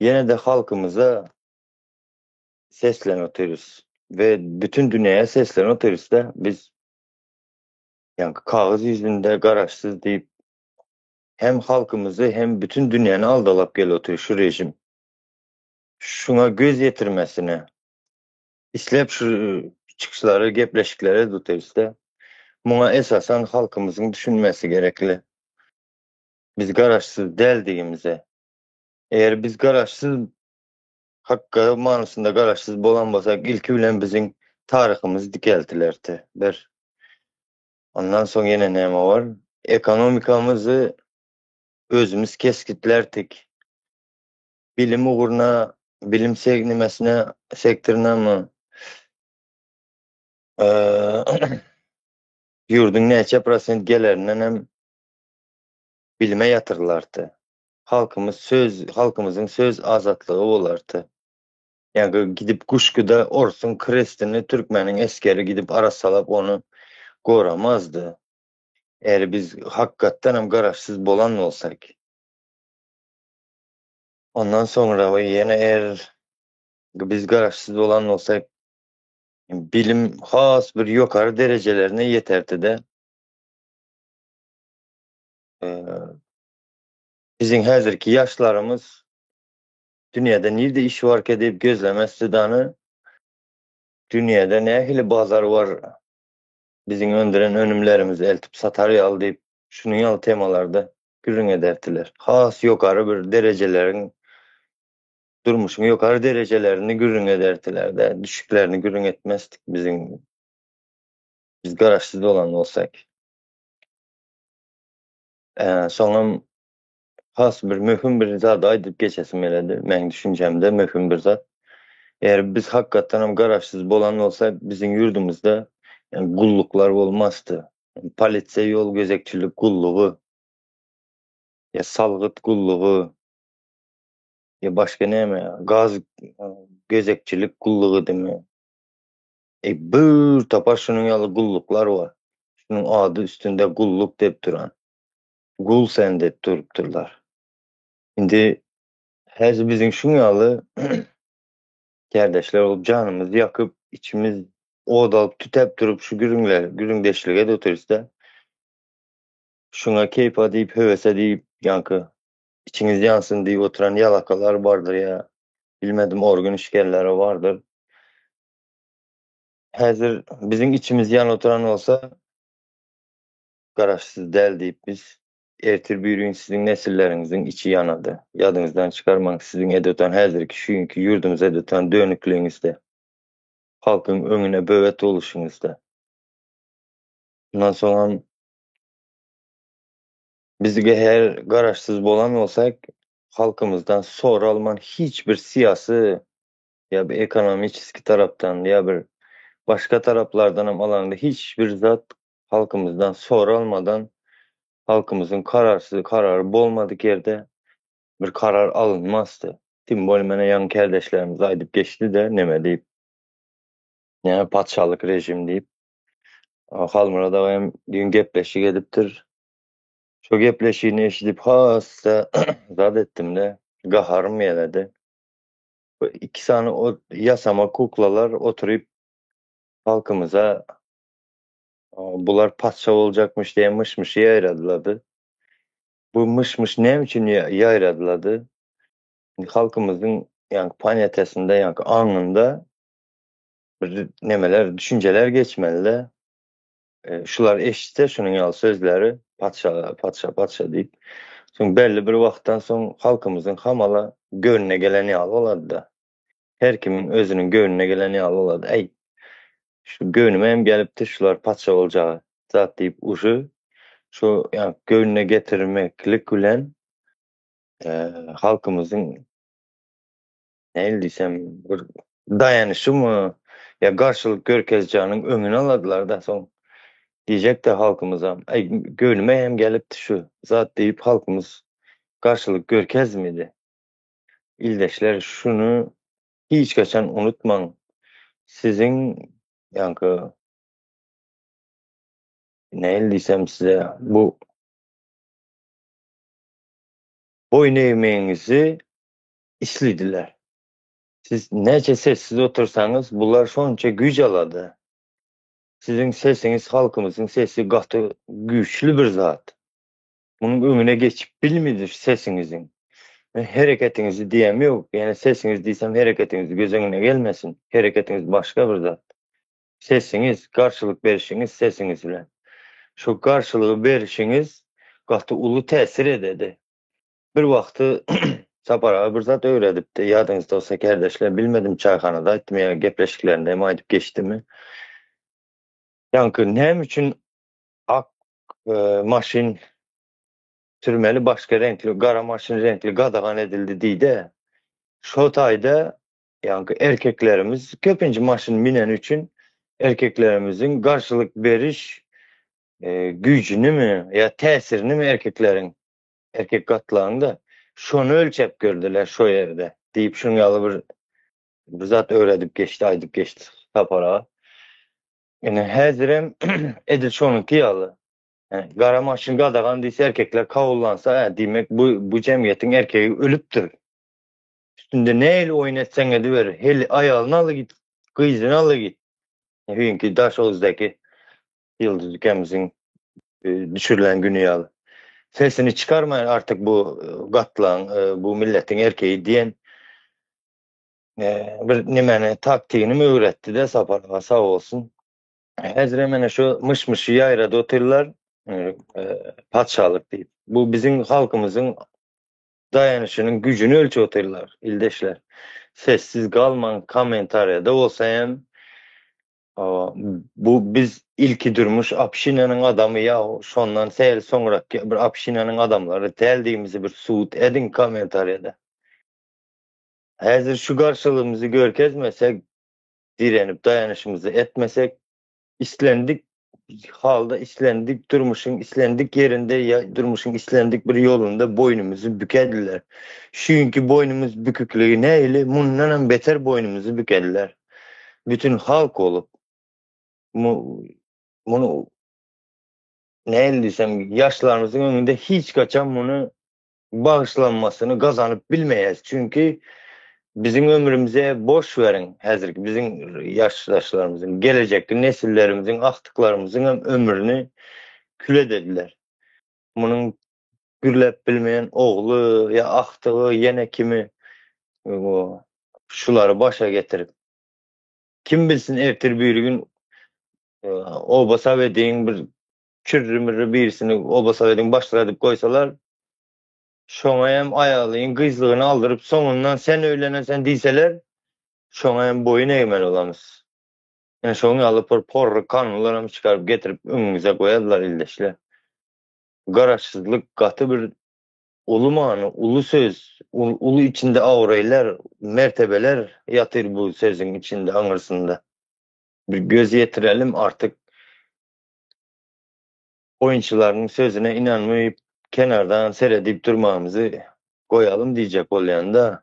Ýene-de halkymyza seslenip otyrys we bütin dünýä seslenip otyrys-da, biz ýaňky kagyz ýüzünde garaşsyz diýip, hem halkymyzy, hem bütin dünýäni aldalap gelip otyr şu režim. Şuňa göz ýetirmesine, isläp şu çykyşlary, gepleşikleri edip otyrys-da, muňa esasan halkymyzyň düşünmesi gerekli. Biz garaşsyz däldigimize, Eger biz garaşsyz hakga manysynda garaşsyz bolan bolsak ilki bilen biziň taryhymyz dikeltilerdi. Bir. Ondan soň ýene näme bar? Ekonomikamyzy özümiz kesgitlerdik. Bilim ugruna, bilim segnimesine, sektorynamy ýurduň näçe prosent gelirinden hem bilime ýatyrylardy. halkymyz söz halkymyzyň söz azatlygy bolardy. Ýa-da gidip guşguda orsuň krestini türkmeniň esgeri gidip arassalap ony goramazdy. Eger biz hakykatdan hem garaşsyz bolan bolsak. Ondan soňra we ýene er biz garaşsyz bolan bolsak bilim has bir ýokary derejelerine ýeterdi-de. Biziň häzirki ýaşlarymyz dünýäde nirde iş barka diýip gözlemezdi dany, dünýäde nähili bazar bar, biziň öndüren önümlerimizi eltip satar ýaly diýip, şunuň ýaly temalarda gürrüň ederdiler. Has ýokary bir derejeleriň, durmuşyň ýokary derejelerini gürrüň ederdiler-de, düşüklerini gürrüň etmezdik biziň, biz garaşsyz bolan bolsak. Soňam has bir möhüm bir zady aýdyp geçesim geledi. Meniň düşünjemde möhüm bir zat. Eger biz hakykatdanam garaşsyz bolan bolsak, biziň ýurdumyzda gulluklar bolmazdy. Polisiýa, ýol gözegçilik gullugy, ýa salgyt gullugy, ýa başga näme, gaz gözegçilik gullugydymy? Eý, bir topar şunuň ýaly gulluklar bar. Şunuň ady üstünde gulluk diýip duran. Gul sen diýip durupdyrlar. Indi häzi biziň şuň ýaly kärdeşler bolup janymyzy ýakyp, içimiz ot alyp tütäp durup şu gürrüňler, gürrüňdeşlige de oturyşda şuňa keýpa diýip, höwese diýip, ýaňky içiňiz ýansyn diýip oturan ýalakalar bardyr ýa bilmedim organ işgärleri bardyr. Häzir biziň içimiz ýan oturan bolsa, garaşsyz däl diýip biz, ertir birigün siziň nesilleriňiziň içi ýanady. Ýadyňyzdan çykarmaň, siziň edotan häzirki şu günki ýurdumyza edotan dönükligiňizde, halkyň öňüne böwet boluşyňyzda. Mundan soňam biz gehär garaşsyz bolan bolsak, halkymyzdan soralman hiç bir syýasy ýa bir ekonomiçeskiý tarapdan, ýa bir başga taraplardan hem alaňda hiç bir zat halkymyzdan soralmadan, halkymyzyň kararsyz, karary bolmadyk ýerde bir karar alynmasdy. Tim bolýa menä ýaňy kärdeşlerimiz aýdyp geçdi-de neme diýip, näme patyşalyk režim diýip. Halmyrat aga hem düýn gepleşik edipdir. Şo gepleşigini eşidip has-da zat etdim-de, gaharym geledi. Iki sany o ýasama kuklalar oturyp halkymyza bular patyşa boljakmyş diýen myş-myşy ýaýradylady. Bu myş-myş näme üçin ýaýradylady? Halkymyzyň ýaňky paniýatasynda, ýaňky aňynda bir nemeler, düşünjeler geçmeli-de. Şular eşitse şunuň ýaly sözleri, Patyşa, patyşa, patyşa diýip, soň belli bir wagtdan soň halkymyzyň hamala göwnüne gelen ýaly bolady-da. Her kimiň özüniň göwnüne gelen ýaly bolady. Äý, şu göwnüme hem gelipdir şular patyşa boljak zat diýip, uşy şu ýa göwnüne getirmeklik bilen halkymyzyň nähili diýsem, bir daýanyşymy ýa garşylyk görkezjeginiň öňüni alardylar-da, soň diýjekdi halkymyzam, Äý, göwnüme hem gelipdi şu zat diýip, halkymyz garşylyk görkezmedi. Ildeşler, şuny hiç haçan unutmaň, siziň, ýaňky, nähili diýsem size, bu boýun egmegiňizi islidiler. Siz näçe sessiz otursaňyz bular şonça güýç alady. Siziň sesiňiz halkymyzyň sesi gaty güýçli bir zat. Munuň öňüne geçip bilmidir sesiňiziň. Men hereketiňizi diýem ýok, ýene sesiňiz diýsem hereketiňiz göz öňüne gelmesin. Hereketiňiz başga bir zat. Sesiňiz, garşylyk berişiňiz sesiňiz bilen. Şu garşylygy berişiňiz gaty uly täsir ededi. Bir wagty Sapar aga bir zat öwredipdi, ýadyňyzdasa kärdeşler, bilmedim çaýhanada aýtdymy ýa gepleşiklerinde hem aýdyp geçdimi, ýaňky näme üçin ak maşyn sürmeli başga reňkli, gara maşyn reňkli gadagan edildi diýdi, şo taýda ýaňky erkeklerimiz köpinji maşyn müneni üçin erkeklerimiziň garşylyk beriş güýjünimi ýa täsirinimi erkekleriň Erkek gatlagyny-da şony ölçäp gördiler şo ýerde, diýip, şunuň ýaly bir bir zat öwredip geçdi, aýdyp geçdi Sapar aga. Ine, häzirem edil şonuňky ýaly. Gara maşyn gadagan diýse, erkekler kabullansa, ä, diýmek, bu, bu jemgyýetiň erkegi ölüpdir. Üstünde nähili oýun etseň ediber, heli aýalyny aly git, gyzyny aly git. Hüýnki Daşoguzdaky Ýyldyz Gemziň düşürilen güni ýaly sesini çykarmaýan artyk bu gatlaň bu milletiň erkeýi diýen bir nimeni taktigini öwretdide Sapar aga sag bolsun. Hezire mene şu myş-myşy ýaýrady otyrlar patyşalyk diýip. Bu biziň halkymyzyň daýanyşynyň güjüni ölçep otyrlar ildeşler. Sessiz galmaň kommentariýada bolsa hem Bu biz ilki durmuş obşinanyň adamy ýa şondan sel soňraky bir obşinanyň adamlary däldigimizi bir subut ediň kommentariýada. Häzir şu garşylygymyzy görkezmesek, direnip daýanyşymyzy etmesek, islendik halda islendik durmuşyň islendik ýerinde ýa durmuşyň islendik bir ýolunda boýnumyzy bükediler. Şu günki boýnumyz bükükligi nähili mundanam beter boýnumyzy bükediler. Bütin halk bolup muny nähili diýsem, ýaşlarymyzyň öňünde hiç haçan muny bagyşlanmasyny gazanyp bilmeýäris. Çünki biziň ömrümize boş beriň, häzirki biziň ýaşdaşlarymyzyň, gelejekki nesillerimiziň, agtyklarymyzyňam ömrüni kül edediler. Munuň gürläp bilmeýän ogly ýa agtygy ýene kimi o şulary başa getirip. Kim bilsin ertir biri gün oba sowediň bir kürri mürri birisini oba sowediň başlygy edip goýsalar şoňa hem aýalyň gyzlygyny aldyryp soňundan sen öýleneseň diýseler şoňa hem boýun egmeli bolamys. Ine şoň ýaly bir porry kanunlaram çykaryp getirip öňümize goýarlar ildeşler. Garaşsyzlyk gaty bir uly many, uly söz, uly içinde abraýlar, mertebeler ýatyr bu sözüň içinde, aňyrsynda. Bir göz ýetirelim artyk oýunçylaryň sözüne ynanmyp kenardan seredip durmagymyzy goýalym diýjek bolýan-da.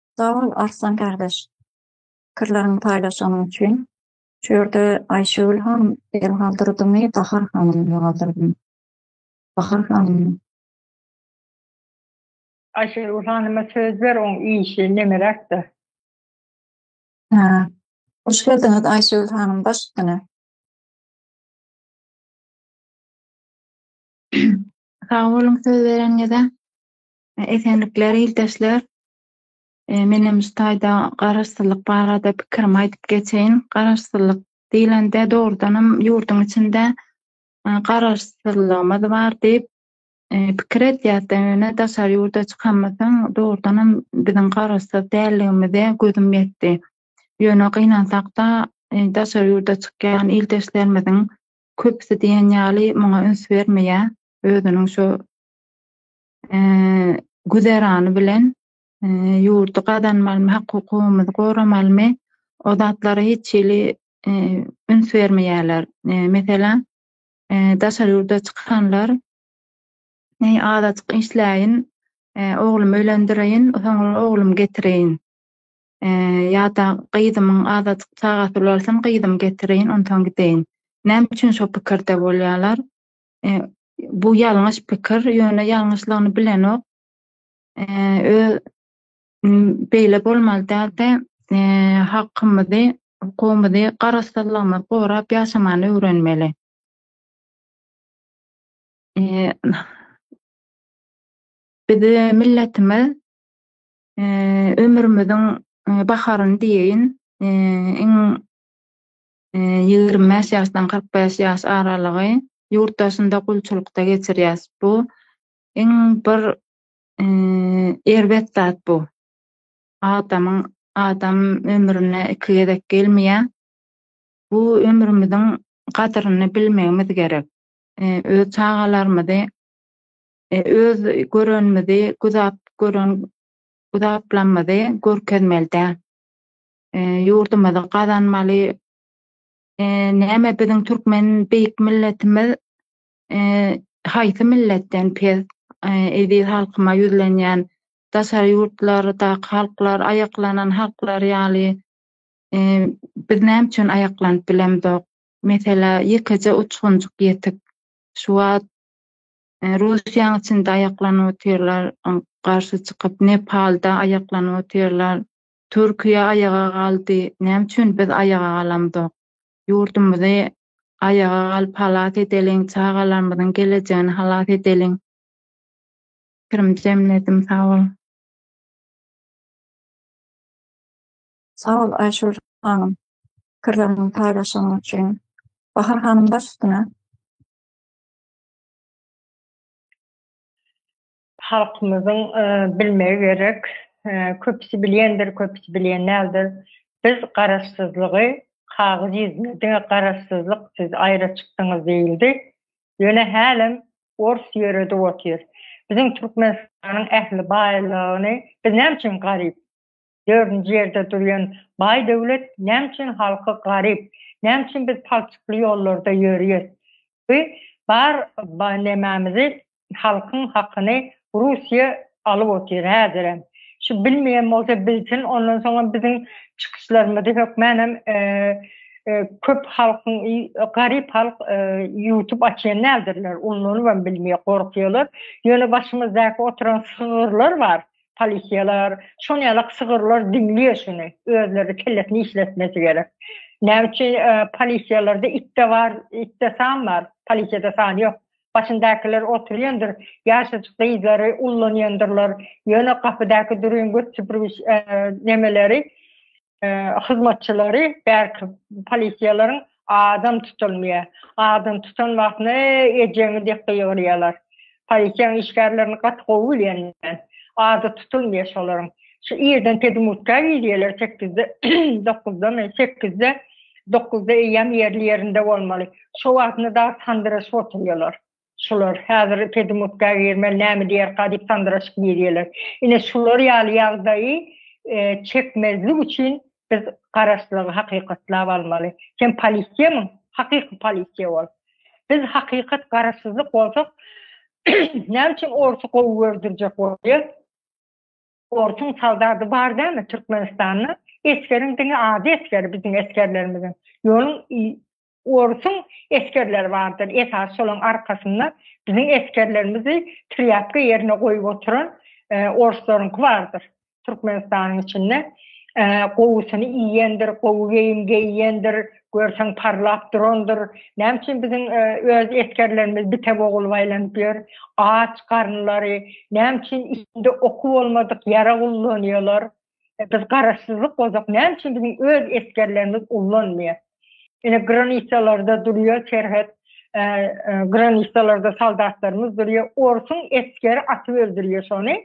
Sag bol Arslan gardaş pikirleriňi paýlaşanyň üçin. Şu ýerde Aýşegül han el galdyrdymy Bahar hanym el galdyrdymy? Bahar hanym. Aýşegül hanyma söz ber oň işi nemeräkde. Hä. Hoş geldiňiz Aýşegül hanym baş üstüne. Sag boluň söz bereniňize. Esenlikler ildeşler. E, men hem şu taýda garaşsyzlyk barada pikirimi aýdyp geçeýin. Garaşsyzlyk diýlende dogrudan hem ýurduň içinde e, garaşsyzlygymyz bar diýip E, pikir edýärdi. Ýöne daşary ýurda çykamysyň, dogrudan hem biziň garaşsyz däldigimize gözüm ýetdi. Ýöne gynansakda, e, daşary ýurda çykýan ildeşlerimiziň köpüsi diýen ýaly muňa üns bermeýär. Özüniň şu güzerany bilen ýurdy gazanmalymy, hak-hukugymyzy goramalymy, o zatlara hiç hili üns bermeýärler. Meselem, daşary ýurda çykanlar azajyk işläýin, oglumy öýlendireýin, soňra oglumy getireýin ýa-da gyzymyň azajyk çagasy ulalsyn, gyzymy getireýin, onsoň gideýin. Näme üçin şo pikirde bolýarlar? Bu ýalňyş pikir, ýöne ýalňyşlygyny bilenok. Öz beýle bolmaly däldi. Hakymyzy, hukugymyzy, garaşsyzlygymyzy gorap ýaşamany öwrenmeli. Bizi milletimiz ömrümiziň baharyny diýeýin, iň ýigrimi bäş ýaşdan kyrk bäş ýaş aralygy ýurt daşynda gulçulykda geçirýäs. Bu iň bir erbet zat bu. Adamyň adam ömrüne iki gezek gelmeýär. Bu ömrümiziň gadyryny bilmegimiz gerek. Öz çagalarymyzy, öz görenimizi, güzap gören güzaplarymyzy görkezmeli däl. ýurdumyzy gazanmaly näme biziň türkmen beýik milletimiz haýsy milletden pes eziz halkyma ýüzlenýän daşary ýurtlardaky halklar aýaklanan halklar ýaly biz näme üçin aýaklanyp bilemzok meselä ýekeje uçgunjyk ýetik şu wagt russiýaň içinde aýaklanyp otyrlar garşy çykyp nepalda aýaklanyp otyrlar Türkiýe aýaga galdy, näme üçin biz aýaga galamzok? Ýurdumyzy aýaga galyp halas edeliň, çagalarymyzyň gelejegini halas edeliň. Pikirim jemledim, sag boluň. Sag bol Aýşur hanym pikirleriňi paýlaşanyň üçin. Bahar hanym baş üstüne. Halkymyzyň bilmegi gerek, köpüsi bilýändir, köpüsi bilýän däldir, biz garaşsyzlygy kagyz ýüzüne diňe garaşsyzlyk siz aýra çykdyňyz diýildi. Ýöne hälem ors ýöredip otyr. Biziň Türkmenistanyň ähli baýlygyny biz näme üçin garyp? Dördünji ýerde durýan baý döwlet näme üçin halky garyp, näme üçin biz palçykly ýollarda ýörýäs? Bi bar nemämizi halkyň hakyny Russiýa alyp otyr häzirem. Şu bilmeýän bolsa bilsin ondan soňam biziň çykyşlarymyzy hökmänem köp halkyň garyp halk ýutup açýan däldirler, ullanybam bilmeýär gorkýarlar. Ýöne başymyzdaky oturan sygyrlar bar. polisiýalar, şol ýalak sygyrlar diňliýe şuny, özleri kellesini işletmesi gerek. Näme üçin polisiýalarda itde bar, itde san bar, polisiýada san ýok. Başyndakylar oturýandyr, ýaşajyk gyzlary ullanýandyrlar, ýöne gapydaky durýan göt süpürgiç nemeleri, hyzmatçylary bärki polisiýalaryň adam tutulmaýar. Adam tutan wagtyna ejeňi diýip gygyrýarlar. Polisiýanyň işgärlerini gaty gowy bilýän men. Ady tutulmaýar şolaryň. Şu irden pedmurtga girýärler sekizde, dokuzdamy, sekizde, dokuzda eýýäm ýerli ýerinde bolmaly. Şo wagtyna dagy sandyraşyp oturýarlar. Şular häzir Pedemotka girmän näme diýerka diýip sandyraşyp girýärler. Ine şular ýaly ýagdaýy çekmezlik üçin biz garaşsyzlygy hakykatlap almaly. Sen polisiýamyň? Hakyky polisiýa bol. Biz hakykat garaşsyzlyk bolsak näme üçin orsy gowy gördürjek bolýar? Orsuň soldady bar dälmi Türkmenistanda? Esgeriň diňe ady esger biziň esgerlerimiziň. Ýoluň Orsuň esgerleri bardyr. Esasy şolaryň arkasynda biziň esgerlerimizi trýapka ýerine goýup oturan orslaryňky bardyr. Türkmenistanyň içinde gowusyny iýendir, gowy geýim geýendir, görseň parlap durandyr. Näme üçin biziň öz esgerlerimiz bite bogulyp aýlanyp ýör? Aç garynlary, näme üçin içinde oky bolmadyk ýarag ullanýarlar? Biz garaşsyzlyk bolsak näme üçin biziň öz esgerlerimiz ullanmaýar. Ine granisalarda durýar serhet granisalarda soldatlarymyz durýar. Orsuň esgeri atyp öldürýär şony.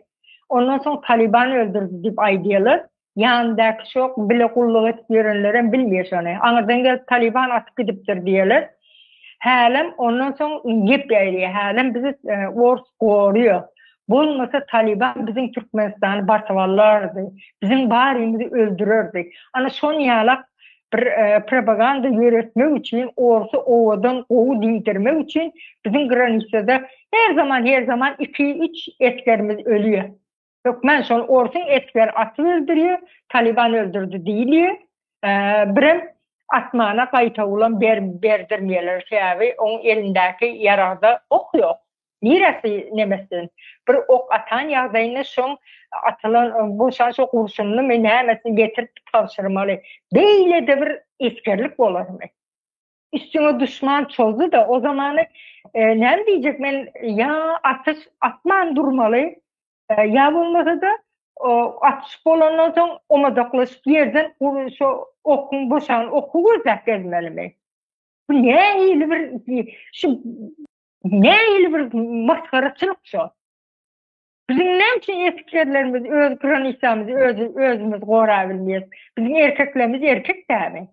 Ondan soň Taliban öldürdi diýip aýdýarlar. Ýanyndaky şok bile gulluk edip ýörenlerem bilmeýär şony. Aňyrdan gelip Taliban atyp gidipdir diýerler. Hälem ondan soň gep ýaýylýar. Hälem bizi ors gorýar. Bolmasa Talyban biziň Türkmenistany basyp alardy. Biziň barymyzy öldürerdi. Ana şon ýalak bir propaganda ýöretmek üçin orsy owadan gowy diýdirmek üçin biziň granisada her zaman her zaman iki üç esgerimiz ölýär. Hökman şol orsuň esger atyp öldürýär, Talyban öldürdi diýilýär. Birem asmana gaýtawulan berdirmeýärler, sebäbi oň elindäki ýaragda ok ýok. Niresi nemesden bir ok atan ýagdaýynda şoň atylan bu şan şo gurşunlymy nämesini getirip tabşyrmaly. Beýle-de bir esgerlik bolarmy? üstüňe düşman çozdy da o zamanı e, ne diyecek men ya atış atman durmaly e, ya olmasa da o, atış bolandan soň omadaklaşıp yerden şu okun boşan oku gözlep gelmeli mi? Bu ne hili bir şu ne hili bir maskaraçılık şu? Bizim näme üçin erkeklerimiz öz granisamyzy öz özümüz gorabilmeýär? Bizim erkeklerimiz erkek dämi?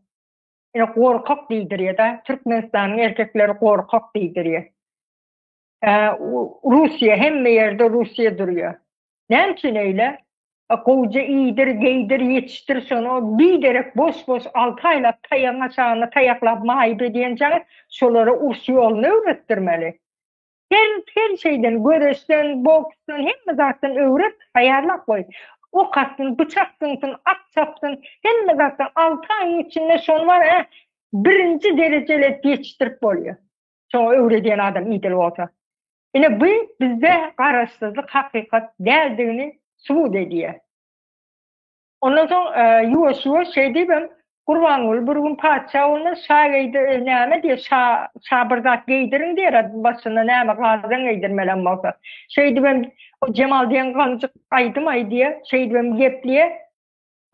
Ýöne gorkak diýdirýär-de, Türkmenistanyň erkekleri gorkak diýdirýär. Russiýa, hemme ýerde Russiýa durýar. Näme üçin eýle? Gowja iýdir, geýdir, ýetişdir, şony biderek boş-boş alty aýlap taýagyň aşagyna taýaklap maýyp edýänçäňiz, şolara uruş ýoluny öwretdirmeli. Her her şeyden göreşden, boksdan, hemme zatdan öwret, taýýarlap goý. Ok atsyn, pyçak synsyn, at çapsyn, hemme zatdan alty aýyň içinde şony bar ya birinji derejeli edip ýetişdirip bolýar. Şoňa öwredýän adam idil bolsa. Ine bu bizde garaşsyzlyk hakykat däldigini subut edýär. Ondan soň ýuwaş-ýuwaş şeý diýibem, Gurbanguly bir gün patyşa bolmaz, şa geýdi, näme diýer, şa, şa bir zat geýdirin diýer-ä, başyna näme gazan geýdirmelem bolsa. Şeý diýibem, o Jemal diýen gamjyk aýdym-aý diýer, şeý diýibem gepleýär.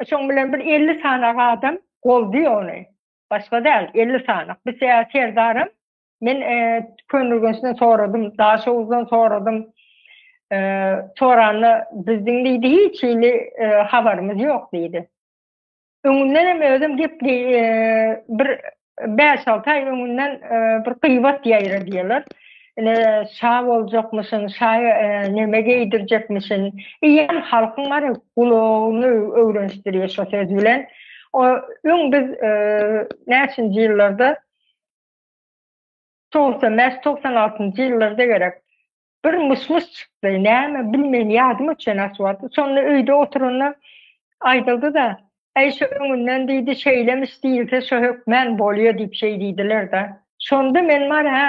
Şoň bilen bir elli sany adam goldaýar ony. Başga däl, elli sany. Bise serdaram, Men Könürgençden soradym, Daşoguzdan soradym. Soranda bizdiň diýdi, hiç hili habarymyz ýok diýdi. Öňünden hem özüm gep bir 5-6 aý öňünden bir gyýbat ýaýra diýerler. Ine şa boljakmyşyn, şa näme geýdirjekmişin. Eýýäm halkyň ara gulagyny öwrenişdirýär şo söz bilen. O öň biz näçinji ýyllarda Togsan bäş, togsan altynjy ýyllarda gerek bir myş-myş çykdy. Näme, bilmeýin, ýadyma çen aşyp aldy. Şonda öýde oturanda aýdyldy-da, Äý, şo öňünden diýdi, şeýlemiş diýilse, şo hökmän bolýa diýip şeý diýdiler-de. Şonda men bar, hä,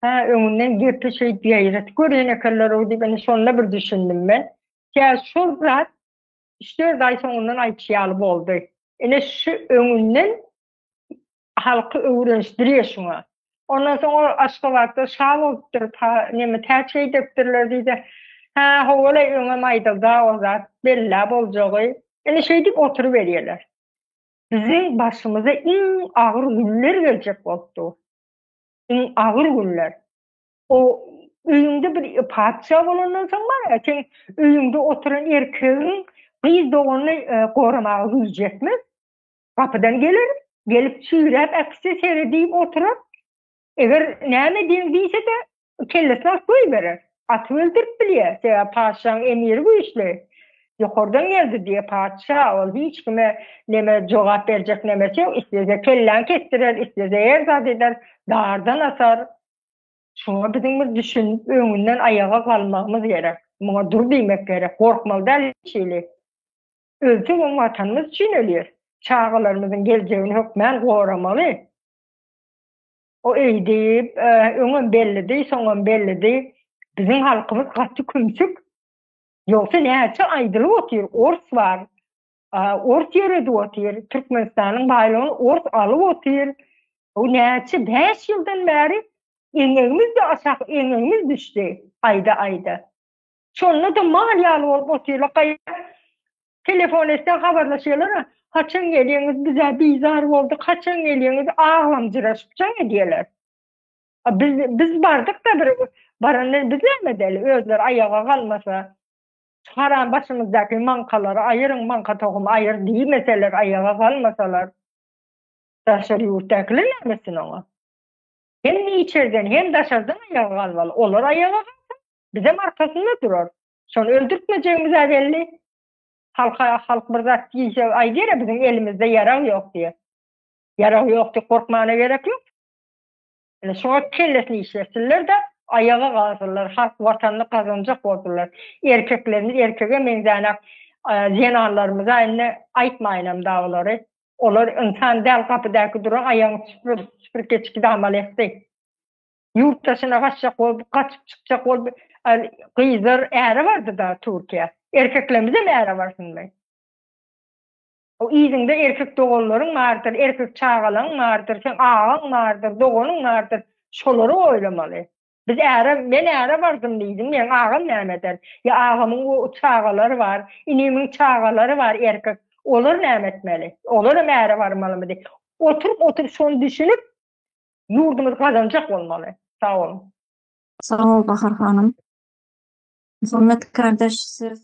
hä, öňünden gepi şeýdip ýaýradyp görýän ekenler-ow diýip, indi şonda bir düşündim men. Kä, şol zat üç-dört aý soňundan aýtýaly boldy. Ine, şu öňünden halky öwrenişdirýär şuňa. Ondan soň ol Aşgabatda şa bolupdyr, pa, neme, täç geýdiripdirler diýse, Hä, ho-ol-aý, öňem aýdyldy-a o zat, bellä boljagy. Ine, şeýdip oturyberýärler. Biziň başymyza iň agyr günler geljek bolup dur. Iň agyr günler. O öýüňde bir patyşa bolandan soň bar ýa, seň öýüňde oturan erkegiň gyz doganyny e, goramaga güýji ýetmez. Gapydan geler, gelip çüýräp äkitse seredip oturar. Eger näme ediň diýse-de, kellesini alyp goýberer. Atyp öldürip bilýär, sebäbi patyşaň emiri güýçli. Ýokardan geldi diýýär patyşa, ol hiç kime neme jogap berjek nemesi ýok, islese kelläňi kesdirer, islese her zat eder, dardan asar. Şuňa biziň bir düşünip, öňünden aýaga galmagymyz gerek. Muňa dur diýmek gerek. Gorkmaly däl hiç hili. Ölsek hem Watanymyz üçin ölýär. Çagalarymyzyň geljegini hökmän goramaly. O eýdi, öňem bellidi, soňam bellidi. Biziň halkymyz gaty kümsük. Ýogsa näçe aýdylyp otyr, ors bar. Ors ýöredip otyr, Türkmenistanyň baýlygyny ors alyp otyr. Bu näçe bäş ýyldan bäri eňegimiz-de aşak, eňegimiz düşdi aýda-aýda. Şonda-da mal ýaly bolup otyrlar. Gaýra telefon etseň habarlaşýarlar, Haçan gelýäňiz, biz-ä bizar bolduk, haçan gelýäňiz, aglamjyraşyp jaň edýärler. A biz, biz bardyk-da bir, baranda biz näme edeli, özleri aýaga galmasa, şu haram başymyzdaky maňkalary aýyryň, maňka tohumy aýyr diýmeseler, aýaga galmasalar, daşary ýurtdakylar näme etsin oňa? Hem içeriden, hem daşardan aýaga galmaly. Olar aýaga galsa, Bizem arkasynda durar. Şony öldürtmejegimiz-ä belli. Halka halk bir zat diýse, aýdar-a biziň elimizde ýarag ýok diýer. Ýarag ýok diýip gorkmana gerek ýok. Ine şoňa kellesini işletsinler-de, aýaga galsynlar, halk Watanyny gazanjak bolsunlar. Erkeklerimiz erkege meňzänok, zenanlarymyz-a indi aýtmaýynam dagy olary. Olar ynsan däl, gapydaky duran aýagyny süpür, süpürgeçki damalaýakdy. Ýurt daşyna gaçjak bolup, gaçyp çykjak bolup, gyzlar äre bardy-da Türkiýä. Erkeklerimizem äre barsynmy? O yzyňda erkek doganlaryň bardyr, erkek çagalaryň bardyr, seň agaň bardyr, doganyň bardyr. Şolary oýlamaly. Biz äre, men äre bardym diýdim, meň agam näme eder? Ýa agamyň çagalary bar, inimiň çagalary bar erkek. Olar näme etmeli? Olaram äre barmalymydy? Oturyp-oturyp şony düşünip, Ýurdumyz gazanjak bolmaly. Sag boluň. Sag bol Bahar hanym. Hormatly kardeş size söz